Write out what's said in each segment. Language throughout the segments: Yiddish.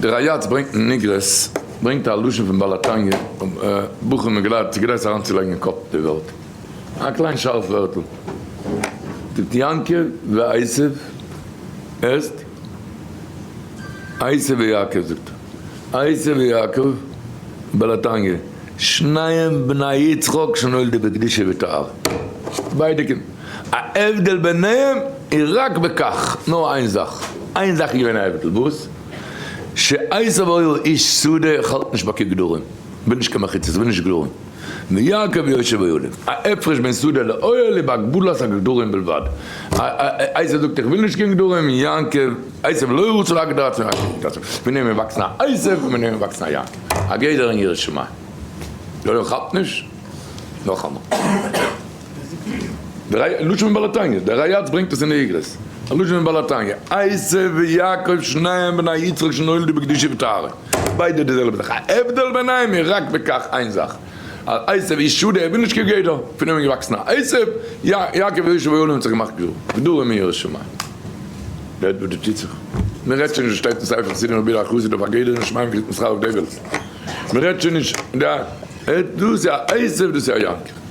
די ראיאטס ברענגט אין איגרעס ברענגט א לשון פון בעל התניא בחור מיט געלייערט צו גרייט זיך אריינצולייגן אין קאפ די וועלט א קליין שארף ווערטל ט יעקב ועשיו עסט עשיו ויעקב זאגט עשיו ויעקב בעל התניא שניהם בני יצחק שנולדו בקדושה וטהרה ביידע קינדער. א הבדל ביניהם איז רק בכך, נאר איין זאך, איין זאך איז געווען א הבדל, וואס? שעשיו היה איש שדה, איך האלט נישט ביי קיין גדרים, כ'בין נישט קיין מחיצות, כ'בין נישט גדרים, ויעקב יושב אוהלים, א הפרש בין שדה לאוהל איז בהגבלת הגדרים בלבד, עשיו זאגט איך וויל נישט קיין גדרים און יעקב, עשיו לא רוצה להגדרה צו יעקב זאגט עשיו, ביניהם איז געוואקסן א עשיו און ביניהם איז געוואקסן א יעקב, א גדר אין יראת שמים, יא יא כאפט נישט? נאכאמאל. לשון מבעל התניא, דער ריי אץ ברענגט עס אין איגרות, א לשון מבעל התניא, עשו ויעקב שניהם בני יצחק שנולדו בקדושה וטהרה, ביידע די זעלבע זאך, ההבדל ביניהם איז רק בכך, איין זאך, אז עשו איז שו ד ער וויל נישט כגדר, פון אים איז געוואקסן א עשו, יעקב איז ישוב העולם האט זיך געמאכט גדול, גדול מן ירא שמים, דעט וואס דא טוט זיך, מען רעדט שוין נישט וואס שטייט אין ספר חסידים רבי אלי' חסיד אויף א גדר אין שמים קריגט מען שכר אויף דעוועלט, מען רעדט שוין נישט דא, דאס איז א עשו דאס איז א יעקב.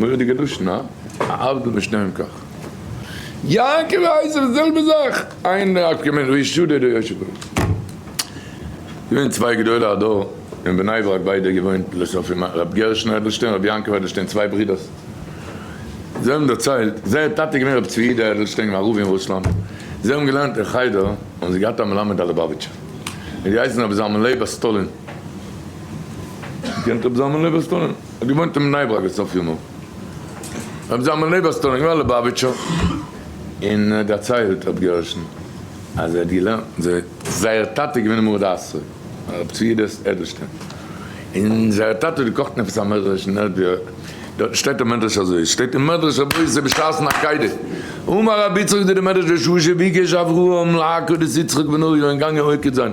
מורא'דיגע לשון, הא? העבדא משניהם כך. יעקב אייזער די זעלבע זאך, איינער האט געמיינט ר' ישעי' אדער ר' יושע ברוך. געווען צוויי גדולי הדור אין בני ברק ביידע געוואוינט לסופים ר' גרשון אדלשטיין ר' יעקב אדלשטיין צוויי ברידערס. זיי האבן דערציילט זייער טאטע איז געווען ר' צבי יהודה אדלשטיין א רב אין רוסלאנד. זיי האבן געלערנט אין חדר האבן זיי געהאט א מלמד א ליבאוויטשער האט געהייסן רבי זלמן לייב אסטולין. קענט רבי זלמן לייב אסטולין? האט געוואוינט אין בני ברק בסוף ימיו, רבי זלמן לייב אז סטאלין געווען א ליובאוויטשער, און ער האט דערציילט רבי גרשון אז ער האט געלערנט, זייער טאטע איז געווען א מרוד אסתר, הרב צבי יהודה אדלשטיין, און זייער טאטע האט געקאכט עפעס א מדרש און ער האט געהערט, דארטן שטייט א מדרש אזוי, עס שטייט אין מדרש אבות ע ב שער נ ק די, אמר רבי יצחק די די מדרש בשעה שביקש אברהם להכות את יצחק בנו און געגאנגען עוקד זיין.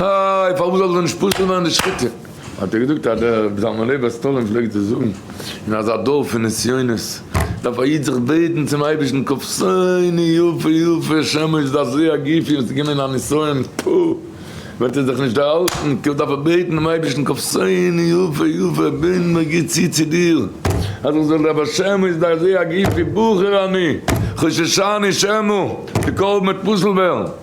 איי, פארוואס זאל דאס נישט פסול ווערן די שחיטה? האט ער געזאגט אז דער רבי זלמן לייב בער סטאלין פלעגט דאס זאגן, אין אזא דור פון נסיונות דארף א איד זיך בעטן צום אייבערשטן קופסייני יפה יפה שמש זעזע א גופי וואס איז געווען א נסיון פ וועט ער זיך נישט דערהאלטן כאילו דארף ער בעטן דעם אייבערשטן קופסייני יפה יפה בין מיר גוט צו צו דיר אז איך זאל דער בר שמש זעזע א גופי בוחר אני חוששני שמא די קרבן וועט פסול ווערן.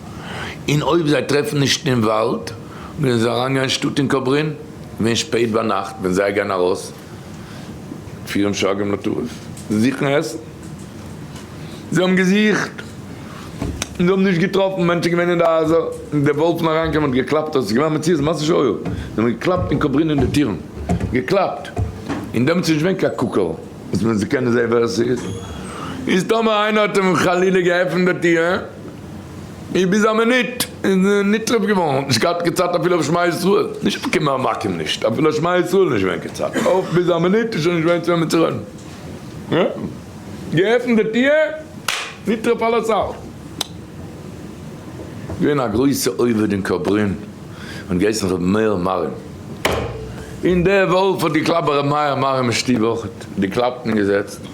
און אויב זיי טרעפן נישט אין וואלד, וועלן זיי אריינגיין אין שטאט אין קאברין, ווען שפעט ביינאכט ווען זיי גייען ארויס פירן שרגים לטרף, זוכן עסן. זיי האבן געזוכט, און זיי האבן נישט געטראפן, מענטשן געווען אין די הייזער, און די וואלפן אריינגעקומען און געקלאפט אויס, עס איז געווען א מציאות מעשה שהיה, זיי האבן געקלאפט אין קאברין אין די טירן, געקלאפט, און דעמאלטס איז נישט געווען קיין קוקער וואס מען זאל קענען זען ווער עס איז, איז טאמער איינער האט אים חלילה געעפנט די טיר, און ביז א מינוט איז נתרפ געווארן האט נישט געהאט קיין צייט אפילו אויף שמע ישראל נישט אויף כמה עמקים נישט אפילו שמע ישראל נישט געווען קיין צייט אויף ביז א מינוט איז שוין נישט געווען צו וועמען צו רעדן געעפנט די טיר נתרפ על הסל געווען א גרויסע עובד אין קאברין האט געהייסן ר' מאיר מארין און דער וואלף האט געקלאפט ביי ר' מאיר מארין אין שטוב אויך די קלאפטן געזעצט.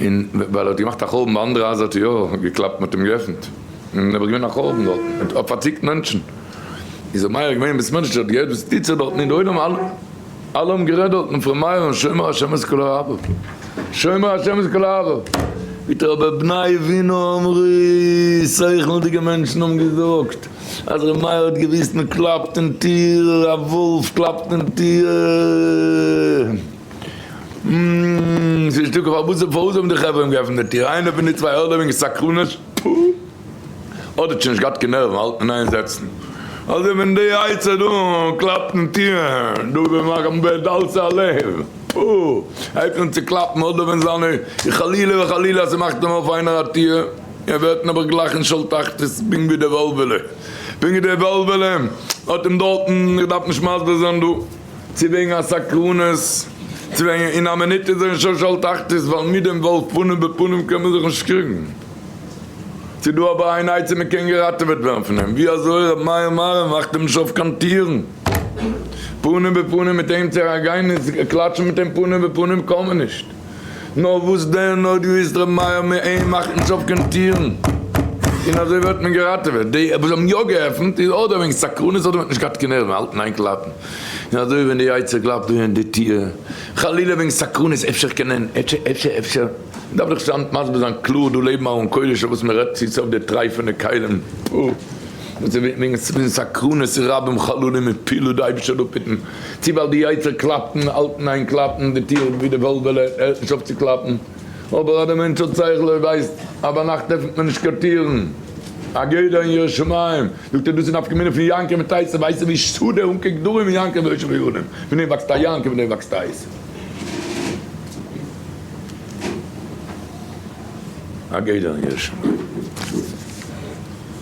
און ווייל ער האט געמאכט א חורבן ביי אנדערע הייזער האט ער יא געקלאפט מ'האט אים געעפנט און נעבעך געווען א חורבן דארטן און האט פארציקט מענטשן איז ר' מאיר געווען ביז מענטשן האט געהערט וואס טוט זיך דארטן אין די עולם אלע אלע האבן גערעדט דארטן פון ר' מאיר און שומר השם את כל אוהביו שומר השם את כל אוהביו וויטער אבער בני עווינא אמרו שכל'דיגע מענטשן האבן געזאגט אז ר' מאיר האט געוואוסט מ'קלאפט אין טיר א וואלף קלאפט אין טיר. און ס'איז נישטא קיין פארוואס, פארוואס האבן די חברה אים געעפנט די טיר? איינער פון די צוויי אדער וועגן סקרנות, פוה! אדער שוין נישט געהאט קיין נערוון האלט מען איין זעצן, אדער ווען די עצה דא קלאפט אין טיר, דא וועט מאכן ב' דלתא א לב, פוה! ער עפענט צו קלאפן אדער ווען זיינע, און חלילה וחלילה אז ס'מאכט אים אויף איינער א טיר, ער ווערט נעבעך גלייך אין שאול תחתית, פונקט ווי די וועלוועלע, פונקט ווי די וועלוועלע האט אים דארטן, איך דארף נישט מסביר זיין דא. צו וועגן א סקרנות, צו וועגן אין א מינוט איז ער אין שש אל תחתית, ווייל מיט דעם וואלף פנים בפנים קען מען זיך נישט קריגן. ס'איז דא אבער איין עצה מען קען געראטעוועט ווערן פון אים, ווי אזוי ר' מאיר מהרא מאכט אים נישט אויף קיין טירן, פנים בפנים מיט אים צו אריין גיין און קלאטשן מיט אים פנים בפנים קען מען נישט. נאר וואס דען אויב איז ר' מאיר מעין מאכט נישט אויף קיין טירן און אזוי ווערט מען געראטעוועט די וואס האבן יא געעפנט איז אדער וועגן סקרנות אדער מען האט נישט געהאט קיין נערוון האלטן איין קלאפן און אזוי ווען די יצה ר קלאפט אהן די טיר חלילה וועגן סקרנות אפשר קען ענ עפ ש עפ ש עפ ש מען דארף זיך היינט מסביר זיין קלאר דא לעבן אהן קודש אויף וואס מען רעדט צו סוף די טרייפענע כלים פו וועגן סקרנות רבים חללים און פילוט די אייבערשטער דא פיטן. צי ווייל די יצר קלאפט און האלט אין איין קלאפן די טיר ווי די וועלוועלע הערט נישט אויף צו קלאפן, אבער אז די מענטש האט שכל ער ווייסט אז ביינאכט עפענט מען נישט קיין טירן, א גדר אין ירא שמים, זאגט ער דאס איז נפקא מינה פון יענקי מיט טייס, ווייסט ער ווי שטאט דער אנקער גדרים אין יענקי און יושב יונים, פון דעם וואקסט א יענקי פון דעם וואקסט טייס. א גדר אין ירא שמים.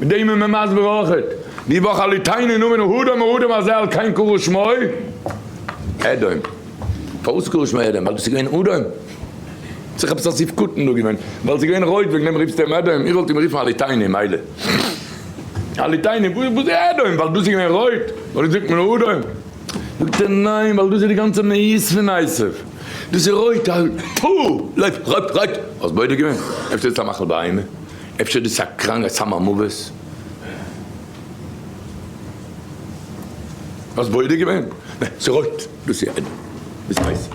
בדעי מען מען מסביר אויכעט די וואך א ליטאי'נער נאמען אהוד המורדים הזה על כן קרא שמו אדום. פארוואס קרא שמו אדום? ווייל עס איז געווען אדום? ס'איז עפעס א ספקותן דא געווען ווייל ס'איז געווען רויט וועגן דעם רופסטו אים אדום? איך וואלט אים גערופן א ליטאי'נער מילא. א ליטאי'נער וואס איז אדום? ווייל דאס איז געווען רויט און אונז זאגט מען אדום? זאגט ער ניין ווייל דאס איז די גאנצע מהות פון עשיו דאס איז רויט א טפו! לויף! רויט! רויט! האסט בודק געווען? אפשר איז עס א מאכל בהמה? אפשר דאס איז א קראנג א סם המוות? האסט בודק געווען? נע, ס'רויט. דאס איז עדן, דאס איז ווייס.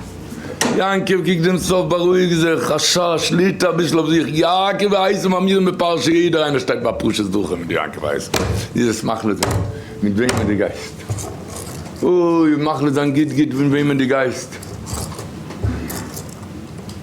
יעקב קוקט דעם סוף, בארואיג זיך, השי ת שליט א אביסל אויף זיך, יעקב ווייס און מאמירים בפרשה יעדער איינער שטייט ביי פרשת זכור מיט יעקב ווייס, איז עס מחליט זיין מיט וועמען דו גייסט. אוי, מחליט זיין גוט גוט מיט וועמען דו גייסט.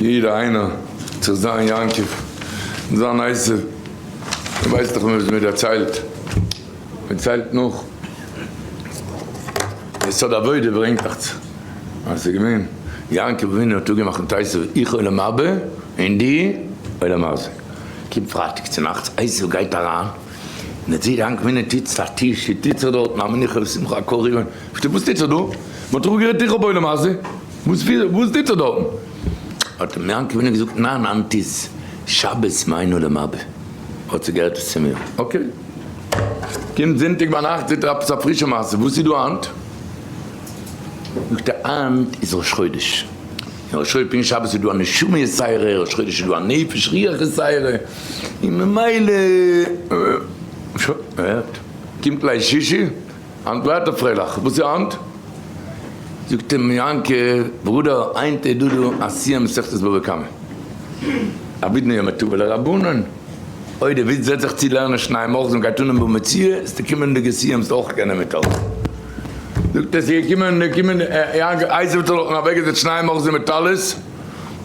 יעדער איינער זאל זיין יעקב און זיין עשו, מען ווייסט דאך וואס מען דערציילט, מען ציילט נאך די סוד עבודה ברענגט דאך צו אז עס איז געווען יעקב אבינו האט אפגעמאכט מיט עשו איך עולם הבא און דו עולם הזה, קומט פרייטאג צונאכטס עשו גייט אריין און ער זעט יעקב אבינו טוט זיך א טיש וואס טוט זיך דארטן א מנוחה ושמחה א קאווע, וואס טוט זיך דא? מען האט דאך אפגערעדט איך האב עולם הזה. וואס טוט ער דארטן? האט אים יענקל ווינער געזאגט, ניין היינט איז שבת מיינו למבה, האט זי גערעדט עס צו מיר, אקעי. קומט זונטאג ביינאכט זעט ער עפעס א פרישע מעשה, וואס איז דא היינט? זאגט ער, היינט איז ראש חודש, און ראש חודש פין שבת איז דא א נשמה יסייערע, ראש חודש איז דא א נפש רוח יסייערע, און ממילא, שוין, ער הערט, קומט ליל שישי, האנט ליידט ער פרייליך. וואס איז היינט? זאגט אים יענקי, ברודער, היינט איז דא דא א סיום מסכת בבא קמא. א ווידמע יום טוב ולרבנן. אויב די וויץ זעצט זיך צו לערנען שניי מוחזן און גייט אן אין בבא מציעא, איז די קומענדיגע סיום זאלסטו אויך קענען מיטהאלטן. זאגט ער, ס'איז געקומען, אייזיק האט אויך אוועקגעזעצט שניי מוחזן מיט טלית.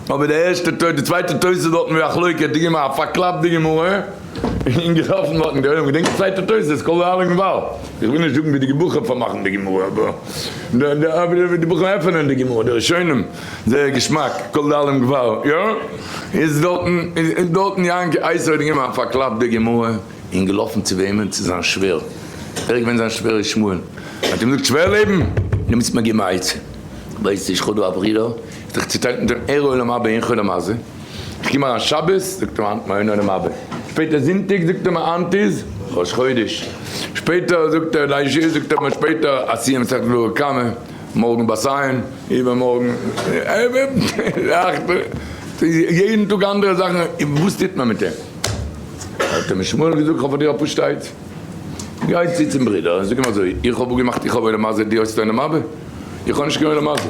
אבער די ערשטע טויט, די צווייטע טויט איז דארטן ווי א חלוקה, די גמרא, א פארקלאפטע גמרא, און געטראפן דארטן די עולם, געדענקסט די צווייטע טויט איז קול אהלה געוואלד, איך וויל נישט זאגן ווי די געבוכער פארמאכן די גמרא, אבער ווי די בוכער עפענען די גמרא, די ראשונים, זייער געשמאק, קול אהלה געוואלד, יא, איז דארטן, איז דארטן יענקי אייז האט גענומען א פארקלאפטע גמרא און געלאפן צו וועמען? צו זיין שווער, ווער איז געווען זיין שווער איז שמואל, ער האט אים געזאגט שווער לעבן, די מוזט מיר געבן א עצה, ווייסט נישט כ'האב דא א ברודער, זיך צו טענה'ן דעם ער העולם הבא אין חול המעשה, איך קום אריין שבת זאגט ער מיר היינט מיין עולם הבא, שפעטער זונטאג זאגט ער מיר היינט איז ראש חודש, שפעטער זאגט ער ליל שש זאגט ער מיר שפעטער א סיום מסכת בבא קמא, מארגן באסיין, איבערמארגן יעדן טאג אנדערע זאכן, וואס טוט מען מיט אים? האט אים שמואל געזאגט איך האב פאר דיר א פשט'עט, גיי צו צום ברודער און זאג אים אזוי, איך האב אפגעמאכט איך האב עולם הזה דו האסט עולם הבא? איך האב נישט קיין עולם הזה.